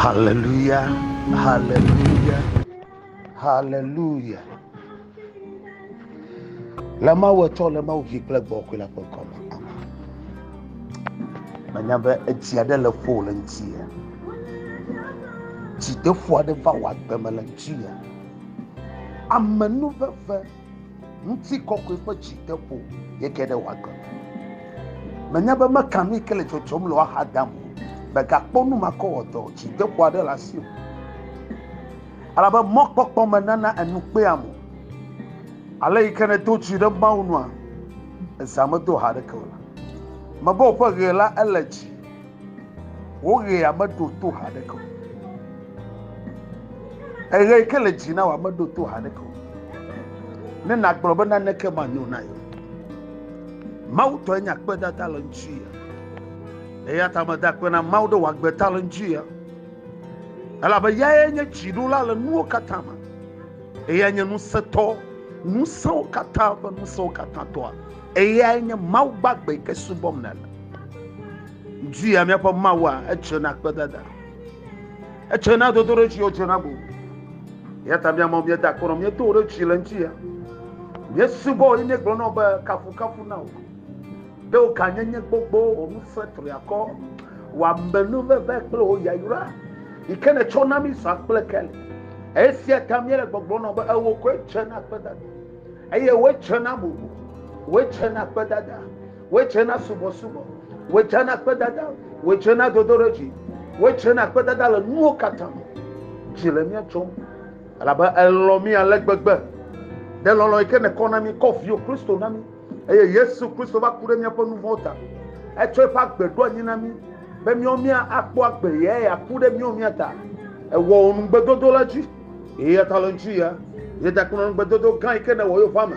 Hallelujah, hallelujah, hallelujah. Le Mawu etsɔ le Mawu vi kple gbɔ kɔe la ƒe ŋkɔ me. Menya be etsi aɖe le ƒo le ŋuti ya. Dzideƒo aɖe va wɔ agbe me le ŋuti ya. Amenuveve. Ŋutikɔkɔe ƒe dzi te ƒo ye ke ɖe wòagbe. Menya be meka nu yi ke le dzɔdzɔm le woaxa dam o. Megakpɔ nu makɔwɔdɔ, dzideƒo aɖe le asi o. Elabe mɔkpɔkpɔ menana enu kpea mo. Ale yi ke nèdo dzi ɖe Mawu nua, ezã medo ha aɖeke o la, mebe woƒe ʋe la ele dzi. Wo ɣea meɖo to haɖeke o. Eɣe yi ke le dzi na wòa meɖo to haɖeke o. Ne nàgblɔ be naneke manyo na ye. Mawu tɔe nye akpedada le ŋuti ya. Eya ta meda akpe na Mawu ɖe wòagbe ta le ŋuti ya. Elabe yae nye dziɖola le nuwo katã me. Eya nye ŋusẽtɔ, ŋusẽwo katã ƒe ŋusẽwo katã tɔa. Eyae nye Mawu gbagbe yi ke subɔm nèle. Ŋdi ya míaƒe Mawua, edze na kpedada. Edze na dodo ɖe dzi, edze na bubu. Ya ta míamɔ míeda akɔ nɔ míedo ɖe dzi le ŋdi ya. Míesubɔ wo, míegblɔ na wo be kafukafu na wò. Ɖe wò gãnyenye gbogbo, wò ŋusẽ triakɔ, wò amenuveve kple wò yayra yi ke nètsɔ na mí zã kple keli. Esia ta míele gbɔgblɔ nɔ be ewo koe dze na kpedada. eye wetsena bubu wetsena kpedada wetsena subɔsubɔ wetsena kpedada wetsena dodoɖedzi wetsena kpedada le nuwo katã me dzi le mía tsom elabe elɔ mí ale gbegbe ɖe lɔlɔ yi ke nekɔ na mí kɔ viwo kristo na mí eye yesu kristo va ku ɖe míaƒe nu vɔ̃wo ta etsɔ eƒe agbe ɖo anyi na mí be míawo mía akpɔ agbe ye ya ku ɖe míawo mía ta ewɔ wò nugbedodo la dzi Eya ta le ŋutsu ya, ye da kplɔ ŋugbedodo gã yi ke nèwɔ yewo ƒe ame.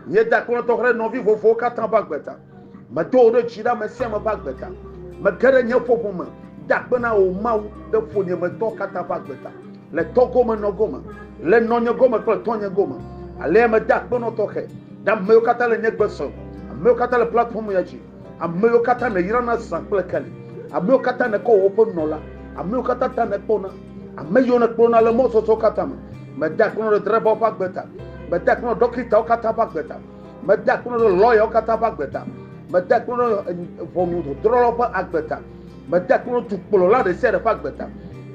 Ye da kplɔ tɔxɛ ɖe nɔvi vovovowo katã ƒe agbe ta. Medo wò ɖe dzi ɖe ame sia ame ƒe agbe ta. Mege ɖe nye ƒoƒo me da akpe na wò Mawu ɖe ƒonyemetɔ katã ƒe agbe ta. Le tɔ gome nɔ gome, le nɔnye gome kple tɔnye gome. Alea meda akpe nɔ tɔxɛ ɖe ame yiwo katã le nye gbe sem, ame yiwo katã le platform ya dzi. Ame yiwo katã nèyrana zã kple keli, ame yiwo katã nèkɔ wɔ woƒe nunɔla, ame yiwo katã ta nèkpɔna, ame yiwo nèkplɔna le mɔzɔzɔ katã me. Mede akpe nɔ ɖedraivawo ƒe agbe ta. Mede akpe nɔ ɖɔkitawo katã ƒe agbe ta. Mede akpe nɔ lɔyawo katã ƒe agbe ta. Mede akpe nɔ ʋɔnudrɔ̃lawo ƒe agbe ta. Mede akpe nɔ dukplɔla ɖe sia ɖe ƒe agbe ta.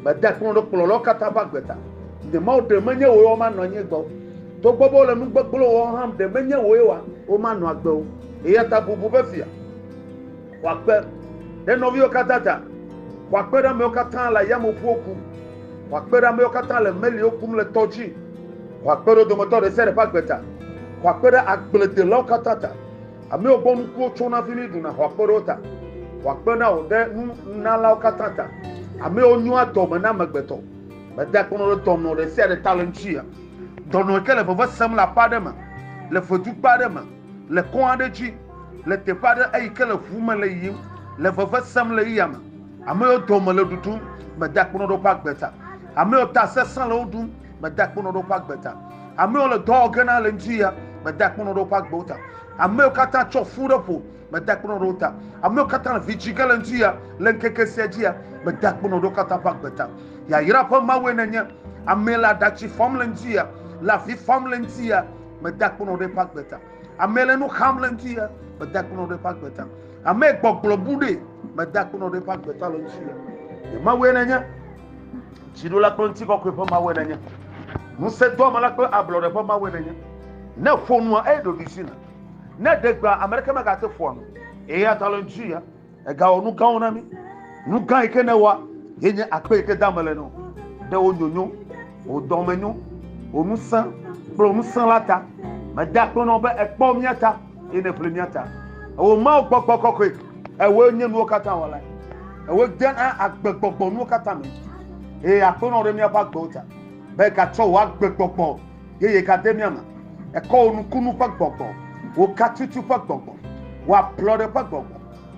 Mede akpe nɔ kplɔlawo katã ƒe agbe ta. Nye Mawu, ɖe menye wòe womanɔ anyi gbɔ o. Togbɔ be wole nu gbegblẽ wɔm hã, ɖe menye wòe womanɔ agbe o. Eya ta bubu be fia wòakpe ɖe nɔviwo katã ta, wòakpe ɖe amewo katã le ayameʋuwo kum, wòakpe ɖe amewo katã le meliwo kum le tɔ dzi, wòakpe ɖe wo dometɔ ɖe sia ɖe ƒe agbe ta, wòakpe ɖe agbledelawo katã ta, amewo gbɔ nukuwo tsona hafi mi ɖuna, wòakpe ɖe wo ta, wòakpe na wò ɖe nunalawo katã ta, amewo nyoa dɔme na amegbetɔ. Mede akpɔnɔ ɖe dɔnɔ ɖe sia ɖe ta le ŋuti ya. Dɔnɔ yi ke le veve sem le aƒe aɖe me, le ʋetukpe aɖe me, Le kɔn aɖe dzi, le teƒe aɖe eyi ke le ŋu me le yiyim, le veve sem le eya me. Ame yiwo dɔme le ɖuɖum, mede akpɔnɔ ɖe woƒe agbe ta. Ame yiwo ta sesẽ le wo ɖum, mede akpɔnɔ ɖe woƒe agbe ta. Ame yiwo le dɔ wɔ ge na le ŋdi ya, mede akpɔnɔ ɖe woƒe agbewo ta. Ame yiwo katã tsɔ fu ɖe ƒo, mede akpɔnɔ ɖe wo ta. Ame yiwo katã le vidzĩ ge le ŋdi ya, le ŋkeke sia dzi ya, mede akpɔnɔ ɖe wo katã ƒe agbe ta. Yayra ƒe Mawue nènye, amee le aɖatsi fam le ŋdi ya, le avi fam le ŋdi ya. meda kpɔnɔ ɖe eƒe agbe ta. Ame le nu xam le ŋuti ya, meda kpɔnɔ ɖe eƒe agbe ta. Ame gbɔgblɔ bu ɖe, meda kpɔnɔ ɖe eƒe agbe ta le ŋuti ya. Nye Mawu ye nenye, dziɖola kple ŋuti kɔkɔe ƒe Mawu ye nenye, ŋusẽdoamela kple ablɔɖe ƒe Mawu ye nenye. Ne ƒo nua, eɖo ɖusi na. Ne ɖe gbea, ame ɖeke megate ƒoa nu. Eya ta le ŋuti ya, Ègawɔ nu gãwo na mí. Nu gã yi ke nèwɔa ye nye akpe yi ke da mele nɔ. Ɖe wò nyonyo, wò dɔmenyo, wò ŋusẽ kple wò ŋusẽ la ta. Meda akpe na wò be èkpɔ mía ta eye nèʋli mía ta. Ewò Mawu gbɔgbɔ kɔkɔe, ewòe nye nuwo katã wɔla. Ewòe dena agbegbɔgbɔ nuwo katã me. Eye akpe na wò ɖe míaƒe agbewo ta be ègatsɔ wò agbegbɔgbɔ Yeye gade mía me. Ekɔ wò nukunu ƒe gbɔgbɔ, wò katutu ƒe gbɔgbɔ, wò ablɔɖe ƒe gbɔgbɔ,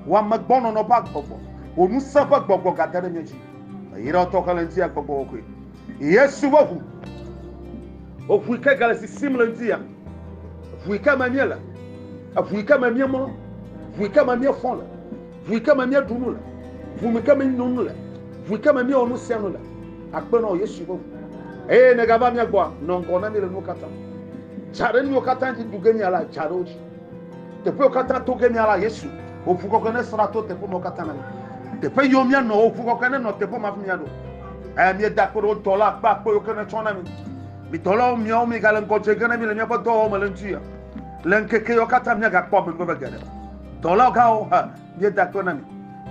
wò amegbɔnɔnɔ ƒe agbɔgbɔ, wò ŋusẽ ƒe gbɔgbɔ gade ɖe mía dzi. Meyra wò tɔxɛ le ŋutilã gbɔgbɔ kɔkɔe. Yesu ƒe ʋu. Wò ʋu yi ke gale sisim le ŋutilã me. Ʋu yi ke me míele. Ʋu yi ke me míemlɔ. Ʋu yi ke me míefɔ le. Ʋui ke me míeɖu nu le, ʋu mi ke míeno nu le, ʋui ke me míewɔ nu sia nu le, akpe nɔ Yesu ƒe ʋu. Eye negava mía gbɔa, nɔ ŋgɔ na mí le nuwo katã. Dza ɖe nuyiwo katã dzi ɖu ge míala, dza ɖe wo dzi. Teƒewo katã to ge míala Yesu. Wò ʋu kɔkɔe nesra to teƒe mawo katã na mí. Teƒe yiwo míanɔ, wò ʋu kɔkɔe nenɔ teƒe ma hafi míaɖo. Eye míeda akpe ɖe wò dɔla akpe akpe yiwo ke nètsɔ na mí. Mi dɔlawo, miawo migale ŋgɔ dze ge na mí le míaƒe dɔwɔwɔ me le ŋdi o. Le ŋkeke yawo katã míagakpɔ amenuveve geɖe. Dɔla gãwo hã, míeda akpe na mi.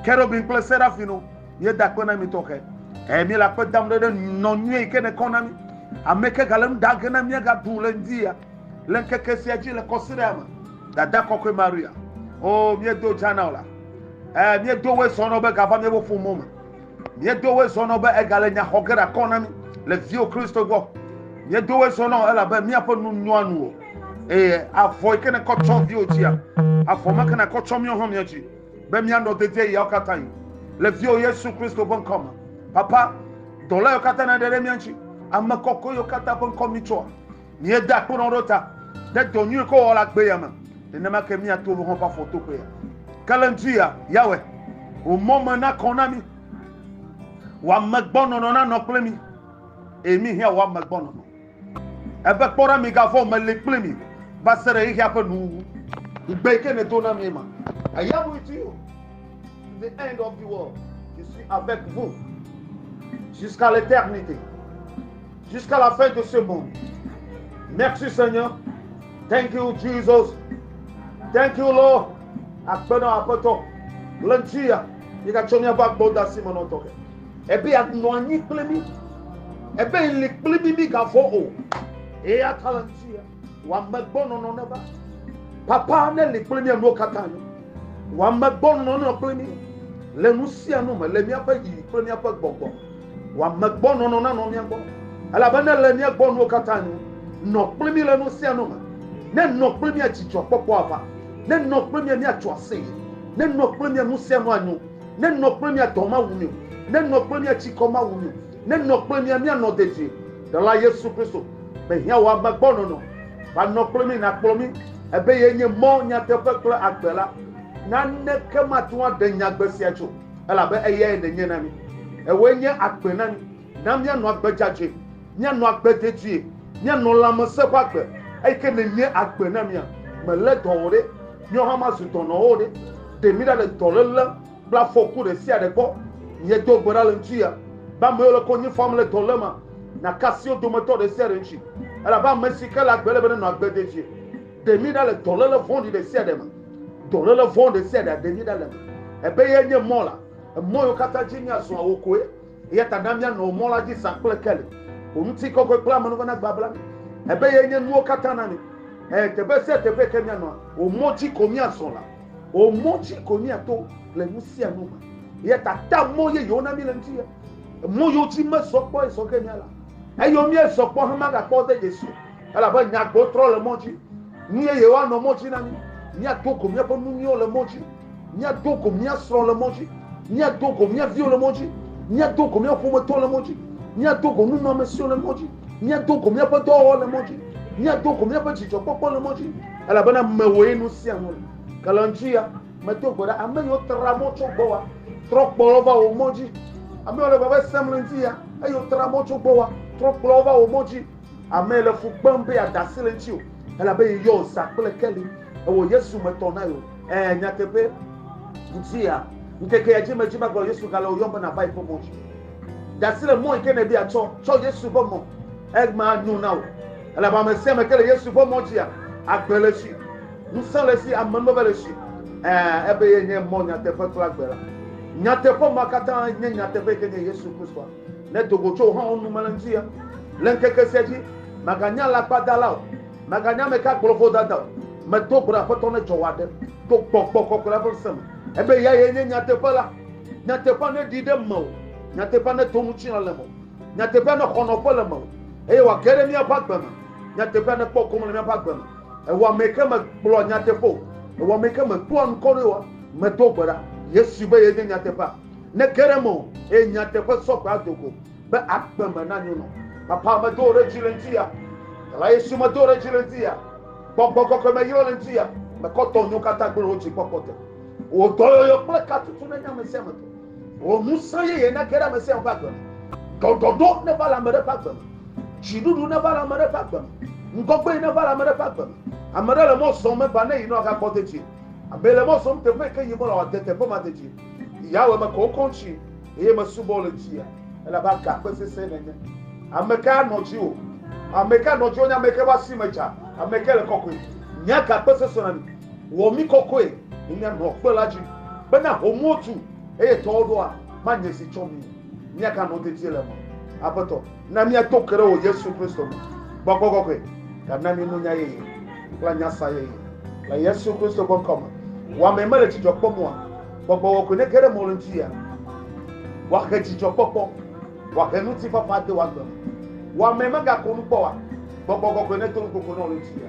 Kerubim kple serafimwo, míeda akpe na mi tɔxɛ. Eye míele akpe dam ɖe ɖe nɔ nyuie yi ke nèkɔ na mí. Ame ke gale nu ɖa ge ne míagaɖu le ŋdi ya le ŋkeke sia dzi le kɔsiɖea me. Dada kɔkɔe Maria, o míedo dza na wò la. Eye míedo woe sɔ nɔ be gava míaƒe ƒomewo me. Míedo woe zɔ nɔ be egale nya xɔ ge ɖe akɔ na mí le viwò Kristo gbɔ. Míedo woe zɔ nɔ elabe míaƒe nu nyoa nu wò. Eye avɔ yi ke nèkɔ tsɔ viwò tsia, avɔ ma ke nàkɔ tsɔ míawo hã mía dzi be míanɔ dedieɣiawo katã ɣi le viwò Yesu Kristo ƒe ŋkɔ me. Papa, dɔla yiwo katã nèɖe ɖe mía ŋuti, ame kɔkɔe yiwo katã ƒe ŋkɔ míetsɔa, Míeda akpoɖɔŋ ɖe wo ta ɖe dɔ nyui ke wowɔ le agbe ya me. Nenema ke míato wo hã ƒe afɔtoƒe ya. Ke le ŋdi ya, Yawe, wò mɔ me nakɔ na mí. Wò amegbɔnɔnɔ nanɔ kple mí, eye mí hã wò amegbɔnɔnɔ. Ebe kpɔ ɖa migavɔ̃ o, mele kple mi va se ɖe xexea ƒe nuwuwu. Ŋugbe yi ke nèdo na míe ma. I am with you to the end of the world. Je suis avec vous jusqu'à l'éternité. Jusqu'à la fin de ce monde. Merci Seigneur. Thank you Jesus. Thank you Lord. Akpe na aƒetɔ le ŋuti ya. Yi gatsɔ míaƒe agbɔdasi me nɔtɔ ke. Ebe anɔ anyi kple mí. Ebe li kple mí mí gavɔ o. Eya ta le ŋuti ya. Wɔamegbɔnɔnɔ neva. Papa ne li kple mía nuwo katã nu. Wɔamegbɔnɔnɔ nenɔ kple mí le nu sia nu me le míaƒe yi kple míaƒe gbɔgbɔ. Wɔamegbɔnɔnɔ nanɔ mía gbɔ. Elabe ne le mía gbɔ nuwo katã nu, nɔ kple mí le nu sia nu me. Ne nɔ kple mía dzidzɔkpɔkpɔ ava. Ne nɔ kple mía míatso aseye. Ne nɔ kple mía nu sia nu anyo. Ne nɔ kple mía dɔ mawu mí o. Ne nɔ kple mía tsikɔ mawu mí o. Nenɔ kple mía míanɔ dedie. Ɖela Yesu Kristo mehiã wò ame gbɔ nɔnɔ. Va nɔ kple mí nàkplɔ mí ebe ye nye mɔ, nyateƒe kple agbe la. Naneke mate ŋu aɖe nyagbe sia tso elabe eyae nènye na mí. Ewòe nye agbe na mí. Na míanɔ agbe dzadzɛ, míanɔ agbe dedie, míanɔ lãmesẽ ƒe agbe eyi ke nènye agbe na mía. Mèlé dɔ o ɖe, míawo hã mazu dɔnɔwo o ɖe. Ɖe mí ɖa le dɔléle. Kple afɔku ɖe sia ɖe gbɔ, miedo gbe ɖa le ŋutiya, be ame yiwo le konyi fam le dɔléma, naka asi wo dometɔ ɖe sia ɖe ŋuti, elabe ame si ke le agbe ele be nenɔ agbe dedie. Ɖe mí ɖa le dɔléle vɔ̃ɖi ɖe sia ɖe me. Dɔléle vɔ̃ ɖe sia ɖea, ɖe mí ɖa le eme. Ebe ye nye mɔ la, emɔ yiwo katã dzi míazɔa, wò koe. Eya ta na míanɔ wò mɔ la dzi zã kple keli. Wò ŋutikɔkɔe kple amenuveve nababla mí. Ebe ye nye nuwo katã na mí. Ɛ̃, teƒe sia teƒe yi ke míanɔa, wò mɔ dzi ko míazɔ la. O mɔ dzi ko míato le nu sia nu me. Eya ta ta mɔ yeyewo na mí le ŋuti ye. Mɔ yewo dzi mezɔ kpɔ ezɔ ke mía la. Eyɔ míezɔ kpɔ hemagakpɔ de Yesu elabe nyagbo trɔ le mɔ dzi. Nu yeyewo anɔ mɔ dzi na mí. Míado go míaƒe nu nyuiwo le mɔ dzi. Míado go mía srɔ̃ le mɔ dzi. Míado go mía viwo le mɔ dzi. Míado go mía ƒometɔwo le mɔ dzi. Míado go nunɔamesiwo le mɔ dzi. míado go míaƒe dɔwɔwɔ le mɔ dzi míado go míaƒe dzidzɔkpɔkpɔ le mɔ dzi elabena mewòe nu sia nu le ke le ŋuti ya medo gbe ɖa ame yiwo tra mɔ tso gbɔ wa trɔ kplɔ va wò mɔ dzi ame yiwo le veve sem le ŋuti ya eye wotra mɔ tso gbɔ wa trɔ kplɔ va wò mɔ dzi ame le fu kpem be adasi le ŋuti o elabe yeyɔ zã kple keli ewɔ yesu metɔ na yewo ɛɛ nyateƒe ŋuti ya ŋkeke ya dzi medzi magblɔ yesu gale wòyɔm be nava yi ƒe mɔ dzi De asi le mɔ yi ke nèdi atsɔ tsɔ Yesu ƒe mɔ. Egma anyo na wò. Elabe ame sia ame ke le Yesu ƒe mɔ dzia, agbe le esi, ŋusẽ le esi, amenuveve le esi. Ɛ̃, ebe ye nye mɔ, nyateƒe kple agbe la. Nyateƒe ma katã nye nyateƒe yi ke nye Yesu Kristoa. Ne do go tso wò hã wò nu me le ŋutia, le ŋkeke sia dzi, mèganye alakpadala o, mèganye ame ka gblɔ vodada o. Medo gbe ɖa, Aƒetɔ, ne dzɔ wò aɖe to gbɔgbɔ kɔkɔe la ƒe ŋusẽ me. Ebe eyae nye nyateƒe la. Nyateƒea neɖi ɖe mewò, nyateƒea neto ŋutilã le mewò, nyateƒea nexɔ nɔƒe le mewò, eye wòage ɖe míaƒe agbe me. Nyateƒea nekpɔ gome le míaƒe agbe me. Ewɔamee ke megblɔa nyateƒe o, ewɔamee ke medoa ŋkɔ ɖoe oa? Medo gbe ɖa Yesu be yenye nyateƒea. Nege ɖe mewò, eye nyateƒe sɔ gbe ado go be agbe me nanyo nɔ. Papa medo wò ɖe dzi le ŋutiya. Ela Yesu medo wò ɖe dzi le ŋutiya. Gbɔgbɔ kɔkɔe meyrɔ le ŋutiya. Mekɔ tɔnyewo katã gblẽ ɖe wò dzi kpɔkpɔ te. Wò dɔyɔyɔ kple katutu nenye ame sia ame tɔ. Wò ŋusẽ yeye nage ɖe ame sia ame ƒe agbe me. Ɖɔɖɔɖo neva le ame ɖe ƒe agbe me. Dziɖuɖu neva le ame ɖe ƒe agbe me. Ŋgɔgbee neva le ame ɖe ƒe agbe me. Ame ɖe le mɔ zɔm meva ne yinɔ agakpɔ dedie. Ame le mɔ zɔm teƒe yike yim wole wòade teƒe ma dedie. Yawe, mekɔ wò kɔŋtsi eye mesubɔ wò le dzia elabe agakpe sesẽ nènye. Ame kae anɔ dziwò? Ame kae anɔ dziwò nye ame yike ƒe asi me dza, ame yike le kɔkɔe? Nye agakpe sesẽ na mi. Wɔ mí kɔkɔe ne míanɔ kpe la dzi, bena homuwo tu, eye tɔwo ɖoa, manye si tsɔ mí. Míaganɔ dedie le eme. Aƒetɔ, na míato ke ɖe wò Yesu Kristo me. Gbɔgbɔ kɔkɔe, gana mí nunya yeye kple anyasa yeye. Le Yesu Kristo ƒe ŋkɔ me. Wò amee mele dzidzɔ kpɔm oa? Gbɔgbɔ kɔkɔe nege ɖe mɔ le ŋutinye. Wòahe dzidzɔkpɔkpɔ. Wòahe ŋutifafa ade wò agbe me. Wò amee megakɔ nu kpɔ oa? Gbɔgbɔ kɔkɔe nedo nukoko nɔ le ŋutinye.